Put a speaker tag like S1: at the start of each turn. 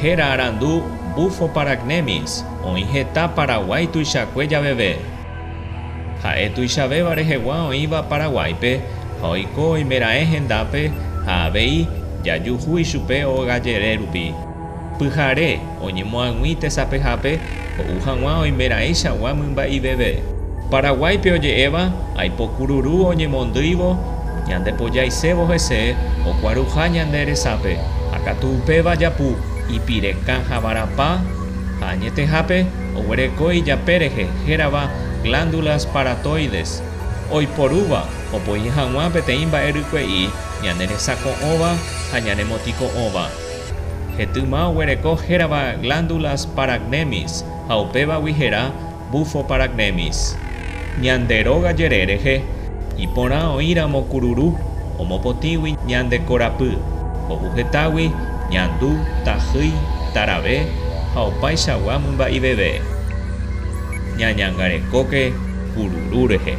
S1: Héra arandu Bufo paragnemis oĩ heta Paraguái tuichakue javeve. Ha'e tuichavéva rehegua oĩva Paraguáipe ha oiko oimeraẽ hendápe ha avei jajuhu ichupe óga jere rupi. Pyhare oñemoag̃ui tesapehápe Ho'u hag̃ua oimeraẽichagua mymba'iveve. Paraguáipe oje'éva, Aipo kururu oñemondýivo ñande pojaisévo hese okuaruha ñande resápe ha katu upéva japu ipirekã ha varapa ha añetehápe oguereko ijape rehe hérava glándulas paratoides oiporúva opoi hag̃ua peteĩ mba'e rykue'i ñaneresako'õva ha ñanemotĩko'õva. Hetyma oguereko hérava Glándulas Paragnemis ha upévagui hera Bufo Paragnemis. Ñande róga jere rehe, iporã oĩramo kururu, omopotĩgui ñande korapy, kovu hetágui, ñandu, tahýi, tarave ha opaichagua mymba'iveve. Ñañangarekóke kururu rehe.